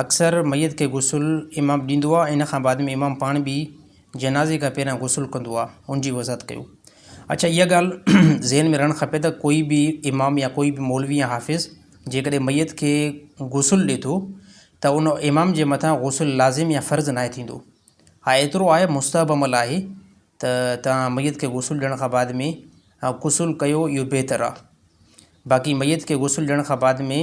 اڪثر ميت کي غسل امام ڏيندو آ ۽ ان کان بعد ۾ امام پاڻ به جنازي کان پهريان غسل ڪندو آ ان جي وضاحت ڪيو. اڇا اها ڳالهه ذهن ۾ رهڻ کپي ته ڪوئي به امام يا ڪوئي به مولوي يا حافظ جيڪڏهن ميت کي غسل ڏي ٿو ته ان امام جي مٿان غسل لازم يا فرض ناهي ٿيندو ها ايترو آهي مستحب عمل آهي ته توهان ميت کي غسل ڏيڻ کان بعد ۾ غسل ڪيو اهو بهتر آ باقي ميت کي غسل ڏيڻ کان بعد ۾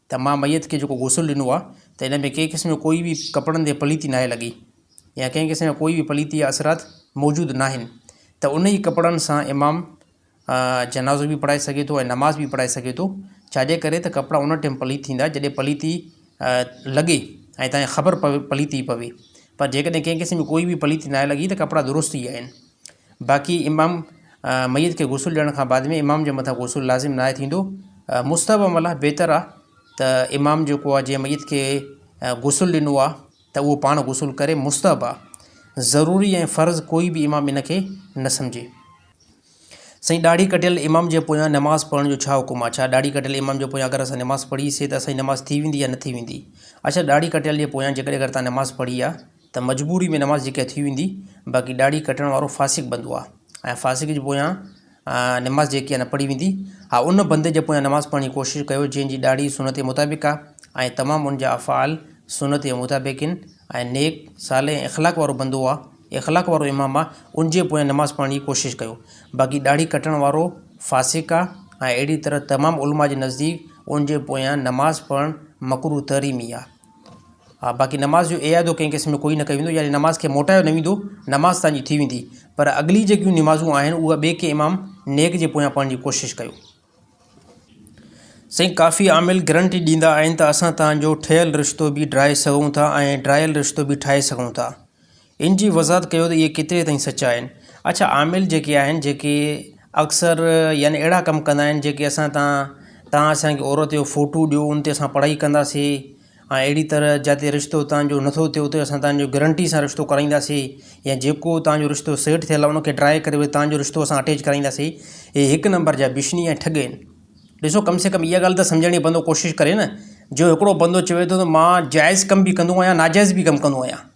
ته مان ميت کي جيڪو غسل ڏنو آهي ته ان ۾ ڪنهن قسم جو ڪوئي به ڪپڙن تي پليتي ناهي لڳي يا ڪنهن قسم جا ڪوئي به پليتي يا اثرات موجود ناهن ته ان ئي ڪپڙن سان امام جنازو به پڙهائي سگهي ٿو ۽ نماز به پڙهائي سگهي ٿو ڇاجي ڪري ته ڪپڙا ان ٽيم پليت ٿيندا جڏهن پليتي لڳي ۽ تنهن خبر پوي پليتي پوي پر جيڪڏهن ڪنهن قسم جي ڪوئي به پليتي ناهي لڳي ته ڪپڙا درست ئي آهن باقي امام ميت کي غسل ڏيڻ کان بعد ۾ امام جي مٿان غسل لازم ناهي ٿيندو مستحب عمل آهي بهتر آهي ته امام جيڪو آهي جنهن ميت کي غسل ڏنو آهي ته اهو پاڻ غسل ڪري مستحب آهي ضروري ۽ فرض ڪوئي به امام ان کي نه سمجهي سائين ڏاڙهي ڪٽيل امام جي پويان نماز پڙهڻ جو ڇا حڪم آهي ڇا ڏاڙهي ڪٽيل امام جي پويان اگر اسان نماز پڙهيسي ته اسان جي نماز ٿي ويندي يا نه ٿي ويندي اچا ڏاڙهي ڪٽيل جي پويان جيڪڏهن اگر تان نماز پڙهي آهي ته مجبوري ۾ نماز جيڪا ٿي ويندي باقي ڏاڙهي ڪٽڻ وارو فاسق بندو آهي ۽ فاسق جي پويان نماز جيڪي آهي نه پڙهي ويندي ها ان بندي جي پويان نماز پڙهڻ جي ڪوشش ڪيو جنهن جي ڏاڙهي سنت جي مطابق آهي ۽ تمام ان جا افعال سنت جي مطابق آهن ۽ نيڪ صالح ۽ اخلاق وارو بندو آهي اخلاق وارو امام آهي ان جي پويان نماز پڙهڻ جي ڪوشش ڪيو باقي ڏاڙهي ڪٽڻ وارو فاسق آهي ۽ اهڙي طرح تمام علماء جي نزديڪ ان جي پويان نماز پڙهڻ مڪروه تحريمي آهي ها باقي نماز جو اعادو ڪنهن قسم جو ڪوئي نه ڪيو ويندو يعني نماز کي موٽايو نه ويندو نماز تهان جي ٿي ويندي پر اڳلي جيڪيون نمازون آهن اها ٻئي ڪنهن امام نيڪ جي پويان پڙهڻ جي ڪوشش ڪيو. سائين ڪافي عامل گرنٽي ڏيندا آهن ته اسان تهان جو ٺهيل رشتو به ڊرائي سگهون ٿا ۽ ڊرايل رشتو به ٺاهي سگهون ٿا ان جي وضاحت ڪيو ته اهي ڪيتري تائين سچا آهن. اڇا عامل جيڪي آهن جيڪي اڪثر يعني اهڙا ڪم ڪندا آهن جيڪي اسان تان توهان اسان کي عورت جو فوٽو ڏيو ان تي اسان پڙهائي ڪنداسين ۽ اهڙي طرح جتي رشتو توهان جو نٿو ٿئي اتي اسان توهان جو گرنٽي سان رشتو ڪرائينداسين يا جيڪو توهان جو رشتو سيٽ ٿيل آهي ان کي ڊرائي ڪري وري توهان جو رشتو اسان اٽيچ ڪرائينداسين اهي هڪ نمبر جا بشني ۽ ٺڳ آهن ڏسو ڪم سي ڪم اها ڳالهه ته سمجهڻ جي بندو ڪوشش ڪري نه جو هڪڙو بندو چوي ٿو ته مان جائز ڪم به ڪندو آهيان ناجائز به ڪم ڪندو آهيان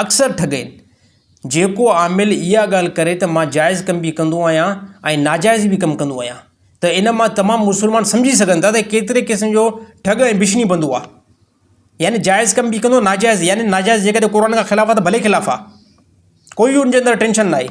اڪثر ٺڳين جيڪو عامل اها ڳالهه ڪري ته مان جائز ڪم به ڪندو آهيان ۽ ناجائز به ڪم ڪندو آهيان ته ان مان تمام مسلمان سمجهي سگهن ٿا ته ڪيتري قسم جو ٺڳ ۽ بشني بندو آهي يعني جائز ڪم به ڪندو ناجائز يعني ناجائز جيڪڏهن قرآن کان خلاف آهي ته ڀلي خلاف آهي ڪوئي ان جي اندر ٽينشن ناهي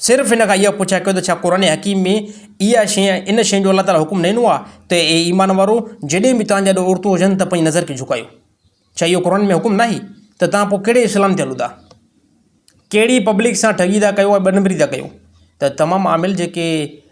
صرف هن کان اها پڇا ڪيو ته ڇا قرآن حڪيم ۾ اها شيء يا ان شيء جو الله تعاليٰ حڪم نه ڏنو آهي ته اي ايمان وارؤ! جڏهن به توهان جي آڏو عورتون هجن ته پنهنجي نظر کي جهڪايو. ڇا اهو قرآن ۾ حڪم ناهي؟ ته توهان پوء ڪهڙي اسلام تي هلو ٿا؟ ڪهڙي پبلڪ سان ٺڳي ٿا ڪيو ۽ ٻنبري ٿا ڪيو؟ ته تمام عامل جيڪي